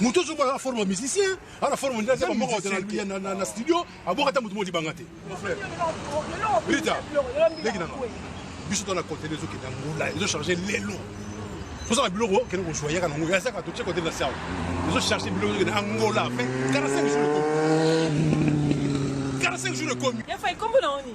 moto ozo bala forme musicien ana forme ndia zema moko ya na na studio aboka ta moto modi banga te mon frère Rita leki nanga biso to na contenu ezo kenda ngula ezo charger lelo toza na biloko kende kozwa yaka nango ya saka totie kote na siao ezo charger biloko ezo kende angola fin 45 jours ekomi 45 jours ekomi ya fa ekombo na oni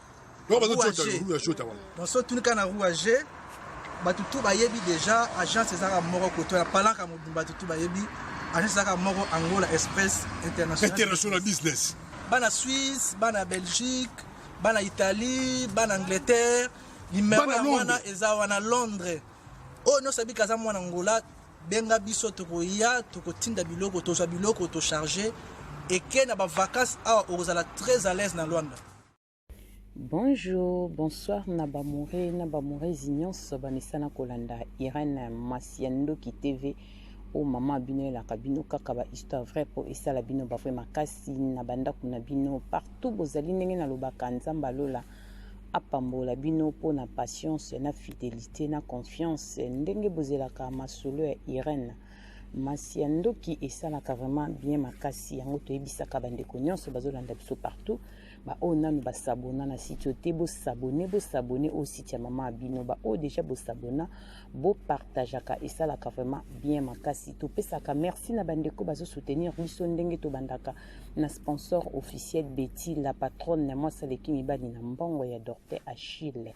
basotunika na rouage bato tu bayebi déjà agence ezaka moko koto ya palaka mobimba bato tu bayebi agence ezaka moko angola express international business bana suisse bana belgique bana italie bana angleterre limero ya wana eza wana londres oyo oh, nyonso abika aza mwana angola benga biso tokoya tokotinda biloko tozwa biloko tocharge eke na bavacance awa okozala très à l'aise na lwanda Bonjour, bonsoir na ba moure na ba mourezi nyonso bamesana kolanda Irène mwasi ya ndoki TV o oh, mama bino elaka bino kaka ba histoire vrai po esala bino ba vrai makasi na bandako na bino partout bozali ndenge na lobaka nzambe alola apambola bino po na patience na fidelité na confiance ndenge bozelaka masolo ya Irène Masia ndoki esalaka vraiment bien makasi yango toyebisaka bandeko nyonso bazolanda biso partout baoyo nanu basabona na site oyo te bosabone bosabone oyo site ya mama ya bino baoyo deja bosabona bopartageaka esalaka vraiment bien makasi topesaka merci na bandeko bazosoutenir biso ndenge tobandaka na sponsor officiel beti la patronne na mwasi aleki mibali na mbongo ya docteur achille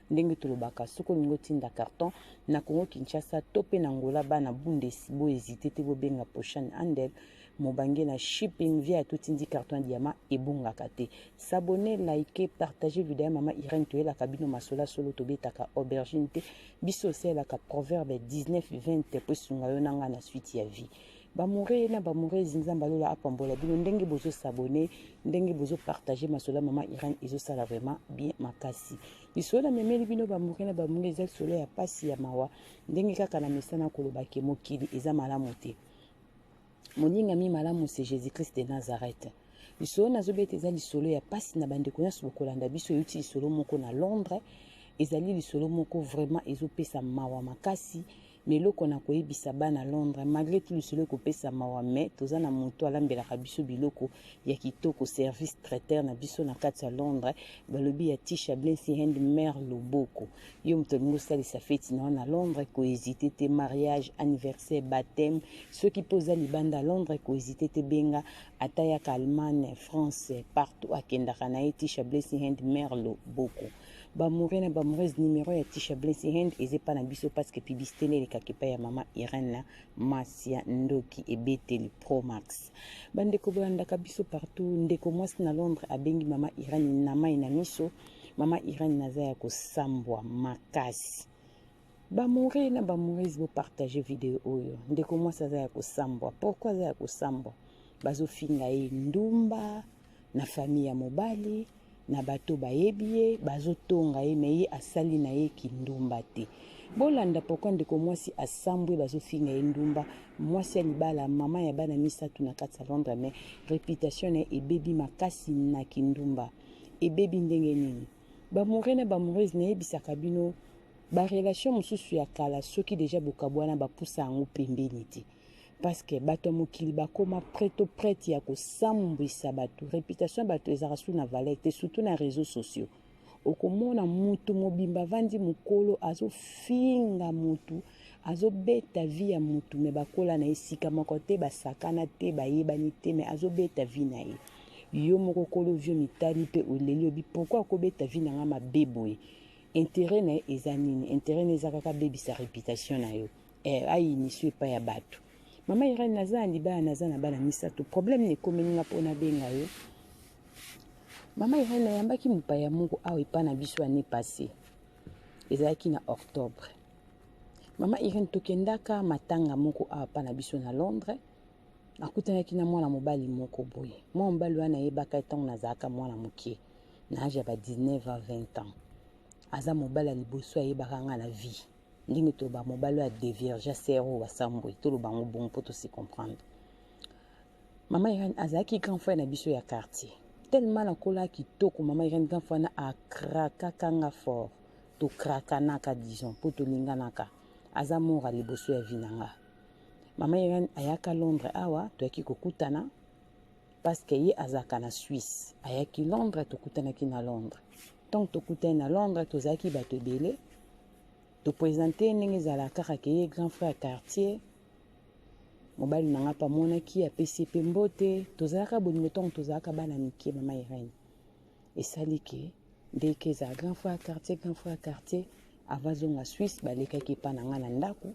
Ndenge tolobaka soki olingi otinda carton na Congo Kinshasa to pe na Angola bana Bundesi bo hésiter te bobenga Poshan Handel mobange na shipping via totindi carton ya diama ebongaka te. S'abonner, liker, partager video ya mama Irène toyelaka bino masola solo tobetaka aubergine te biso osalelaka proverbe 19 20 po esunga yo na nga na suite ya vie. Bamoure na bamourezi nzambe alola apambola bino ndenge bozo sabone ndenge bozo partage masolo ya mama irene ezosala vraiment bien makasi lisolo na memeli bino bamoure na bamoure eza lisolo ya mpasi ya mawa ndenge kaka na mesana koloba ke mokili eza malamu te moningami malamu se jésus christ de nazareth lisolo nazobeta eza lisolo ya mpasi na bandeko nyonso bokolanda biso euti lisolo moko na londres ezali lisolo moko vraiment ezopesa mawa makasi Na eloko na koyebisa bana Londres, malgre tout lisolo ekopesa mawa mais toza na moto alambelaka biso biloko ya kitoko service traiteur na biso na kati ya Londres balobi ya Tisha Blency Hand Mère Loboko. Yo moto olingi osalisa feti na yo na Londres ko hésiter te mariage, anniversaire, baptême soki mpe oza libanda Londres ko hésiter te benga ata yaka Allemagne, France partout akendaka na ye Tisha Blency Hand Mère Loboko. Ba amoureux na ba amoureuses numero ya Tisha Blessing Hand eza epai na biso parce que publicité nde elekaka epai ya mama Irène na Masia Ndoki ebeteli Pro Max. Bandeko bolandaka biso partout, ndeko mwasi na Londres abengi mama Irène na mai na miso. Mama Irène naza ya kosambwa makasi. Bamoure na bamoureuses bopartage video oyo. Ndeko mwasi aza ya kosambwa. Pourquoi aza ya kosambwa? Bazofinga ye ndumba. Ba na famille ya mobali na bato bayebi ye bazotonga ye me ye asali na ye kindumba te bolanda pourkui ndeko mwasi asambwe bazofinga ye ndumba mwasi ya libala mama ya bana misato na kati ya londre me reputation na ye ebebi makasi na kindumba ebebi ndenge nini bamoure na bamourese nayebisaka bino barelation mosusu ya kala soki deja bokabwana bapusa yango pembeni te parce que bato ya mokili bakoma près to prête ya kosambwisa bato réputation ya bato ezalaka su na valeur te surtout na réseaux sociaux okomona mutu mobimba avandi mokolo azofinga mutu azobeta vi ya mutu me bakola na esika moko te basakana te bayebani te me azobeta vi na ye yo moko kolo vio mitali mpe oleli obi pourkui akobeta vi na ngai mabe boye intérêt na ye eza nini intérêt na eza kaka abebisa réputation na yo eh, ainisu epai ya bato mama irene naza na libala naza na bana misato problème na ekomeli nga mpo nabenga yo mama irene ayambaki mopaya moko awa epai na biso année passé ezalaki na octobre mama irene tokendaka matanga moko awa epai na biso na londres akutanaki na mwana mobali moko boye mwana mobali wana ayebaka ntango nazalaka mwana moke na age ya ba 19 a 20 ans aza mobali ya liboso ayebaka nga na vie ndenge to ba mobali oyo adeviergea sere oyo basambwe toloba yango bongo mpo tosi comprendre mama irene azalaki grand frère na biso ya quartier tellement nakolaka kitoko mama irene grand frère na akrakaka nga fort tokrakanaka disons mpo tolinganaka aza mora liboso ya vi na nga mama irene ayaka londres awa toyaki kokutana parceke ye azalaka na suisse ayaki londres tokutanaki na londres ntango tokutani na londres tozalaki bato ebele To presente ye ndenge ezala kaka ke ye grand frère ya quartier. Mobali na nga mpe amonaki ye apesi ye mpe mbote. Tozalaka bolingo ntango tozalaka bana mike mama Irène. Esali ke ndenge ke ezala grand frère ya quartier grand frère ya quartier avant azonga Suisse balekaki epai na nga na ndako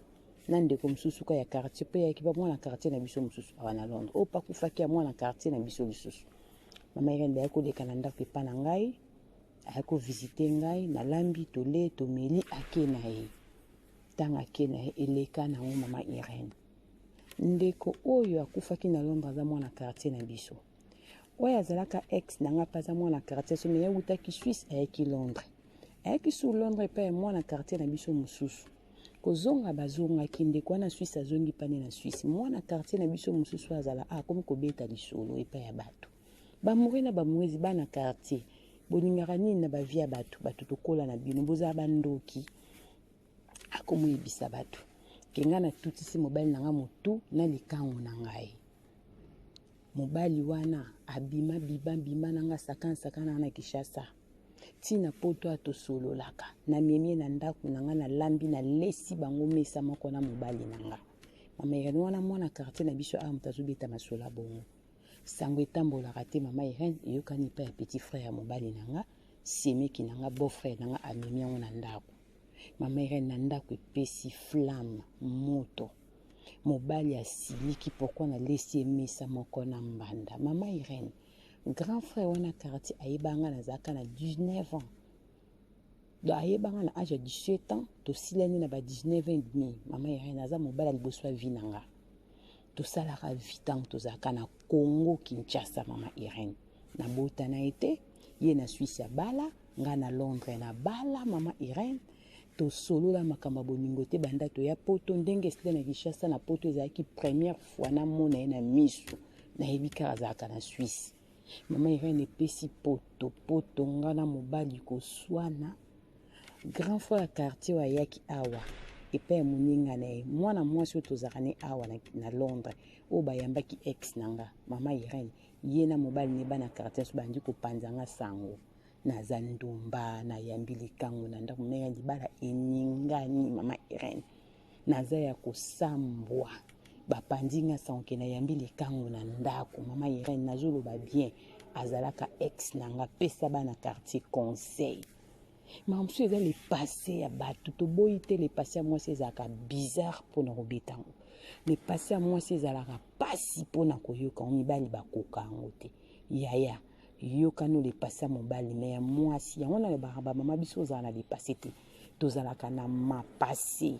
na ndeko mosusu ka ya quartier mpe yaki ba mwana quartier na biso mosusu awa na Londres oyo pakufaki ya mwana quartier na biso lisusu. Mama Irène bayaki koleka na ndako epai na ngai aye kovisite ngai nalambi tole tomeli ake na ye ntango ake na ye eleka na yango mama irene ndeko oyo akufaki na londre aza mwana quartier na biso oyo azalaka ex na ngai mpe aza mwana quartier so meye awutaki suisse ayaki londres ayaki sur londres epai ya mwana quartier na biso mosusu kozonga bazongaki ndeko wana suisse azongi pane na suisse mwana quartier na biso mosusu azala akomi kobeta lisolo epai ya bato Ba amoureux na ba amoureuse bana quartier bolingaka nini na ba vie ya bato bato tokola na bino bozala ba ndoki akomoyebisa bato ke ngai natutisi mobali na ngai motu na likangu na ngai mobali wana abima biba bima na ngai sakana sakana na kishasa ntina poto atosololaka namemie na ndako na ngai nalambi nalesi bango mesa moko na mobali na ngai mama irene wana mwana quartier na biso awa moto azobeta masola bongo sango etambolaka te mama irene eyokani epai ya petit frère ya mobali na nga semeki na nga beau frère na nga amemi yango na ndako mama irene na ndako epesi flamme moto mobali asiliki pourkui nalesi ye mesa moko na mbanda mama irene grand frère wana quartier ayebaka nga nazalaka na 19 ans donc ayeba nga na age ya 17 ans tosilani na ba 19 ans et demi mama irene aza mobali ya liboso ya vi na nga tosalaka vie ntango tozalaka na congo kinshasa mama irene nabota na ye te ye na swisse abala ngai na londres nabala mama irene tosolola makambo ya bolingo te banda toya poto ndenge esila na kinshasa na poto ezalaki première fois namona ye na miso nayebi kaka azalaka na swisse mama irene epesi poto poto nga na mobali koswana grand frère ya quartier oyo ayaki awa epai ya moninga na ye mwana mwasi oyo tozalaka ne awa na, na londres oyo bayambaki ex na nga mama irene ye na mobali ne bana quartier nyonso bandi kopanza nga sango naza ndumba nayambi likango na ndako mena libala eningani mama irene naza ya kosambwa bapanzi nga sanke nayambi likangu na ndako mama irene nazoloba bien azalaka ex na nga pesa bana quartier conseil makambo mosusu eza lepase ya bato toboyi te lepase ya mwasi ezalaka bizarre mpo na kobeta yango lepase ya mwasi ezalaka mpasi mpo na koyoka yango mibali bakoka yango te yaya yokani olepase ya mobali me ya mwasi yango nalobaka bamama biso ozala na lepase te tozalaka na mapasi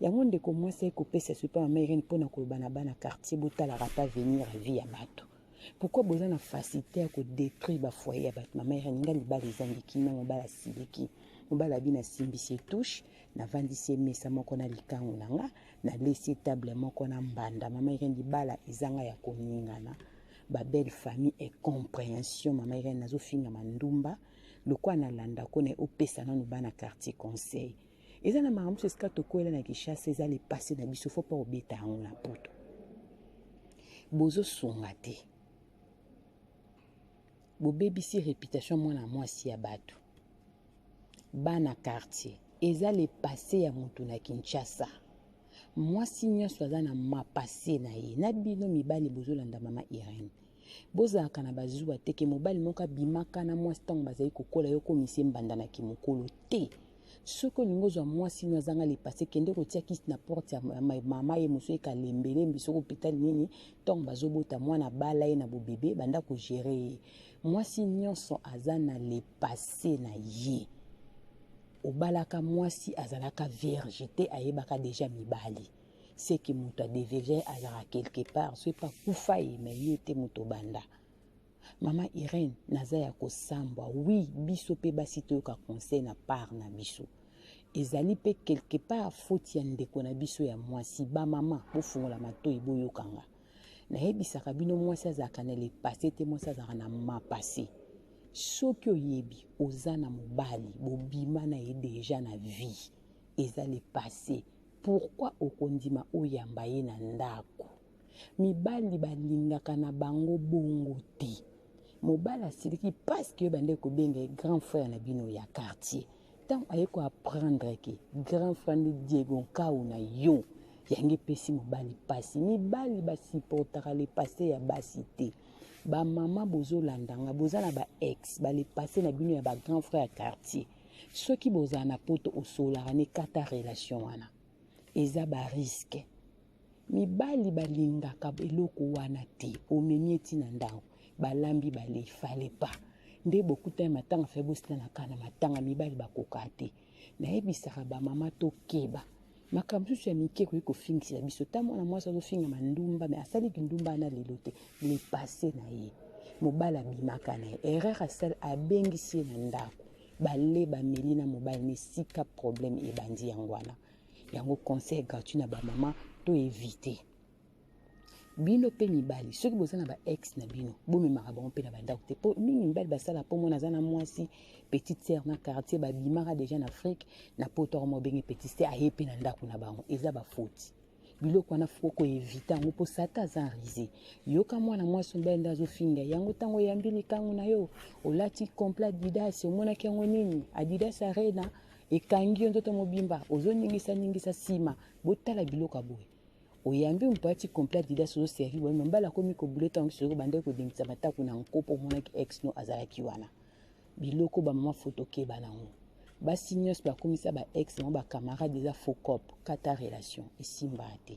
yango ndeko mwasi aye kopesa esopi ya mama irene mpo na koloba na bana quartier botalaka ata venir ya vie ya bato pourkui boza na facilité ya kodétruire bafoyer ya bato mama irene nga libala ezangi kimia mobala asiliki mobala abi nasimbisi etouche navandisi emesa moko na likangu na nga nalesi etable moko na mbanda mama irene libala ezanga ya koningana babelle famille e comprehension mama irene nazofingama ndumba Lokola na landa ko na opesa nanu bana quartier conseil. Eza na makambo esika tokwela na Kinshasa eza le passé na biso faut pas obeta yango na poto. Bozo sunga te. Bobebisi reputation mwana mwasi ya batu. Bana quartier eza le passé ya mutu na Kinshasa. Mwasi nyonso aza na mapase na ye na bino mibali bozolanda mama Irene. Bozalaka na ba zuwa te ke mobali moko abimaka na mwasi ntango bazali kokola yo okomisi ye mbanda na kimokolo te. Soki olingi ozwa mwasi no azanga lipase kende kotia kisi na porte ya mama ye mosusu eka lembelembi soki hôpital nini ntango bazobota mwana bala ye na bobebe banda kogere ye. Mwasi nyonso aza na lepase na ye. Obalaka mwasi azalaka vierge te ayebaka deja mibali. c'est que moto adevelie azalaka quelque part soki mpe akufa ye me ye te moto obanda mama irene naza ya kosambwa wi biso mpe basi toyoka conseil na part na biso ezali mpe quelque part foti ya ndeko na biso ya mwasi bamama bofungola matoi boyokanga nayebisaka bino mwasi azalaka na lepase te mwasi azalaka na mapase soki oyebi oza na mobali bobima na ye deja na vie eza lepase Pourquoi okondima oyamba ye na ndaku? Mibali balingaka na bango bongo te. Mobali asiliki parce que yo bandaki kobenga ye grand frère na bino ya quartier. Tango aye ko apprendre que grand frère nde Diego Nkawu na yo, yango epesi mobali pasi. Mibali ba supportaka le passé ya basi te. Ba mama bozolanda nga, boza na ba ex, ba le passé na bino ya ba grand frère ya quartier. soki bozala na poto osololaka na ekata relation wana eza bariske mibali balingaka eloko wana te omemi eti na ndako balambi bale fale pa nde bokutani matanga fai bosilanaka na matanga mibali bakokaa te nayebisaka bamama tokeba makambo mosusu ya mike ekoki kofingisela biso ta mwana mwasi azofinga mandumba me asali kindumba wana lelo te le passé na ye mobali abimaka na ye erreur asali abengisi ye na ndako bale bameli na mobali na esika problème ebandi yango wana yango conseil gratuit na bamama to evite bino mpe mibali soki boza na ba ex na bino bomemaka bango mpe na bandako te mpo mingi mibali basala mpo mona aza na mwasi petite sere na quartier babimaka deja na afrike na poto yango mobenge petite sere aye mpe na ndako na bango eza bafoti biloko wana fo koevite yango mpo sata aza rise yoka mwana mwasi mobali nde azofinga yango ntango oyambi likangu na yo olati complet adidas omonaki yango nini adidas arena ekangi yo nzoto mobimba ozoningisaningisa nsima botala biloko ya boye oyambi ompati complet adidas ozo servi boye mambala akomi kobule ntango soki obandaki kodengisa mataku na nko mpo omonaki ex no azalaki wana biloko bamama foto keba nango basi nyonso bakomisa ba ex nango bacamarade eza faux cop kata relation esimbaa te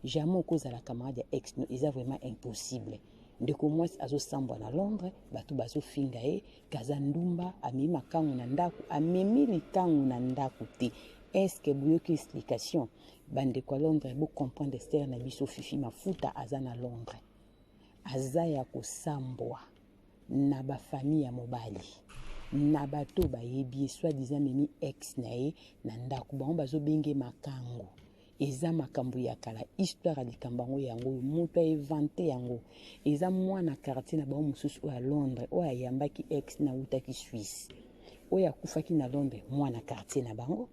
jamais okozala camarade ya ex no eza vraiment impossible ndeko mwasi azosambwa na londres bato bazofinga ye kaza ndumba amemi makango na ndako amemi likango na ndako te eske boyoki explication bandeko ya londres bo comprendre stere na biso fifi mafuta aza na londres aza ya kosambwa na bafamille ya mobali na bato oyo bayebi ye soit disant memi ex na ye na ndako bango bazobenge makango eza makambo ya kala histoire ya likambo yango yango oyo moto aevante yango eza mwana quartier na bango mosusu oyo ya londres oyo ayambaki ex na utaki suisse oyo akufaki na londres mwana quartier na bango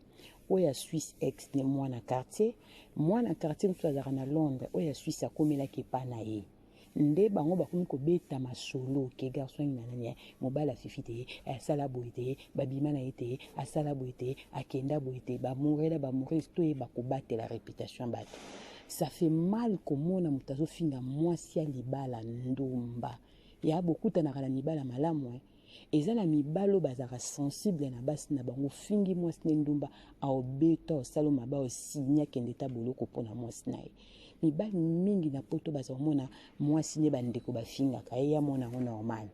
oyo ya Suisse ex ne mwana quartier mwana quartier mosusu azalaka na Londres oyo ya Suisse akomelaki epa na ye nde bango bakomi kobeta masolo ke garçon ye na nani eh, mobali afifi te eh, asala boye te babima na ye te asala boye te akenda boye te bamorela bamorele toyeba kobatela reputation ya bato ça fait mal komona moto azofinga mwasi ya libala ndumba ya bokutanaka na mibala malamu eh. Eza na mibali oyo bazalaka sensible na basi na bango, ofingi mwasi ne ndumba, aobeta, osalo mabe, aosinya kende ta boloko mpo na mwasi na ye. Mibali mingi na poto baza komona mwasi ne bandeko bafingaka ye, ya mona yango normal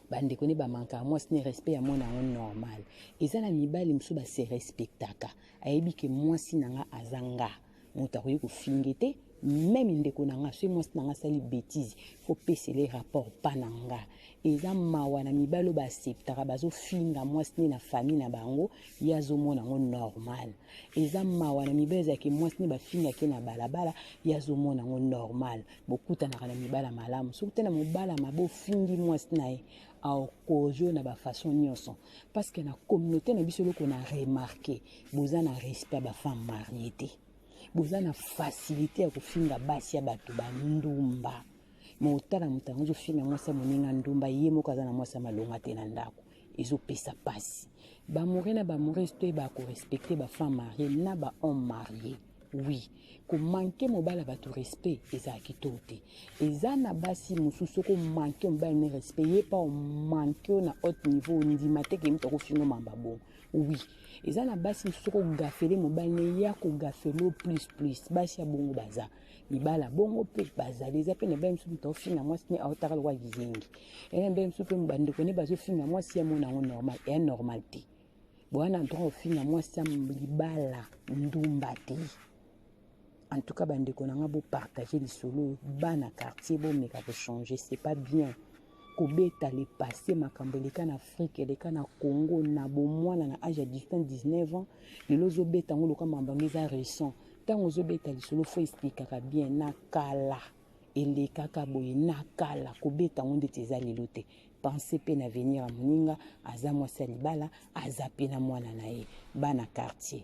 bandeko ne bamankaka mwasi ne respect ya mona yango normal eza na mibali mosusu base respectaka ayebi ke mwasi na nga aza nga moto akoki kofinge te meme ndeko na nga soki mwasi na nga asali betise fo pesele rapport pa na nga eza mawa na mibali oyo baaseptaka bazofinga mwasi nde na famille na bango ye azomona yango normal eza mawa na mibali ezalaki mwasi nde bafingaki na balabala ye azomona yango normal bokutanaka na mibala malamu soki te na mobala mabe ofingi mwasi na ye aokojo na bafaçon nyonso parce que na communauté na biso eloko na remarke boza na respect ya bafemme marie te boza na facilité ya kofinga basi ya bato bandumba ma otala moto yango ozofinga mwasi ya moninga ndumba ye moko aza na mwasi ya malonga te na ndako ezopesa mpasi bamoure na bamourese toyeba korespecte bafemme marie na bahomme marie oui komanke mobali ya bato respect ezala kitoko te eza na basi mosusu soki omanke mobali ne respect ye mpa omanke yo na haute niveau ondima te ke moto akofingo mamba bongo Oui. eza na basi mosusu kogafele mobali ne ye akogafele plus plus basi ya bongo baza mibala bongo mpe bazali eza mpe na bale mosusu moto aofinga mwasi ne aotaka lokola kizengi eza na bale mosusu mpe bandeko ne bazofinga mwasi ya mona yango normal eya normal te bowana droit ofinga mwasi ya libala ndumba te En tout cas bandeko na nga bo partager lisolo oyo bana quartier bomeka ko changer c'est pas bien kobeta le passé makambo eleka na afrique eleka na congo na bomwana na age ya 18 19 ans lelo ozobeta yango loka mambo yango eza récent ntango ozobeta lisolo fo esplikaka bien na kala elekaka boye na kala kobeta yango ndeti eza lelo te pense mpe na avenir ya moninga aza mwasi ya libala aza mpe na mwana na ye bana quartier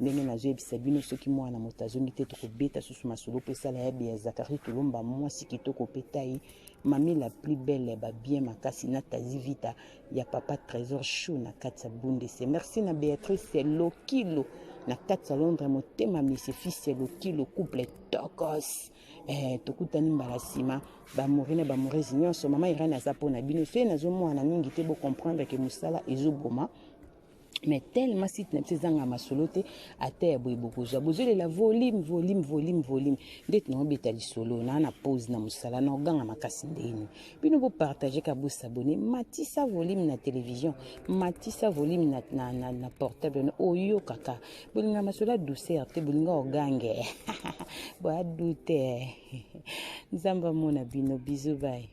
ndenge nazoyebisa bino soki mwana moto azongi te tokobeta susu masolo mpo esala ya bia zakari tolomba mwasi kitoko mpe tai mami la plus belle ya babien makasi na tazi vita ya papa trésor chou na kati ya bundese merci na béatrice lokilo na kati ya londres motema misi fils ya lokilo couple tokos eh, tokutani mbala nsima bamori na bamoresi nyonso mama irene aza mpo na bino soki nazomwana mingi te bocomprendre ke mosala ezoboma mais tellement site na biso ezanga masolo te ata ya boye bokozwa bozolela volume volume volume volume nde tinakobeta lisolo naa na pose na mosala na oganga makasi ndeni bino bopartage ka bosabone matisa volume na télévision matisa volume na, na, na, na portable na oyokaka bolinga masolo ya douceur te bolinga ogange boya dute nzambe amona bino bizu bai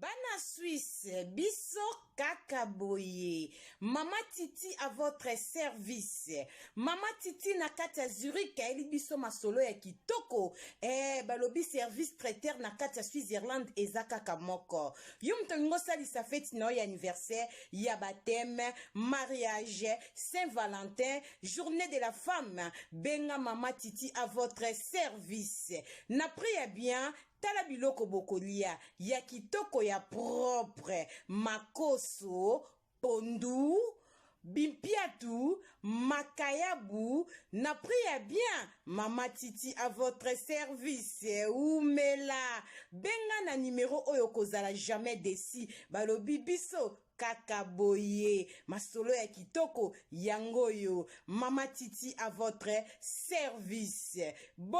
Bana Suisse, biso kaka boye. Mama Titi à votre service. Mama Titi na kati ya Zurich ayeli biso masolo ya kitoko. Eh, balobi service traiteur na kati ya Switzerland eza kaka moko. Yo moto olingi osalisa feti na yo ya anniversaire, ya baptême, mariage, Saint Valentin, journée de la femme, benga Mama Titi à votre service. Na prix ya bien, Tala biloko bokolia ya kitoko ya propre, makoso, pondu, bimpiatu, makayabu na prix ya bien. Mama Titi à votre service. Umela. Benga na numero oyo kozala jamais desi. Balobi biso kaka boye masolo ya kitoko yango yo mama titi à votre service Bo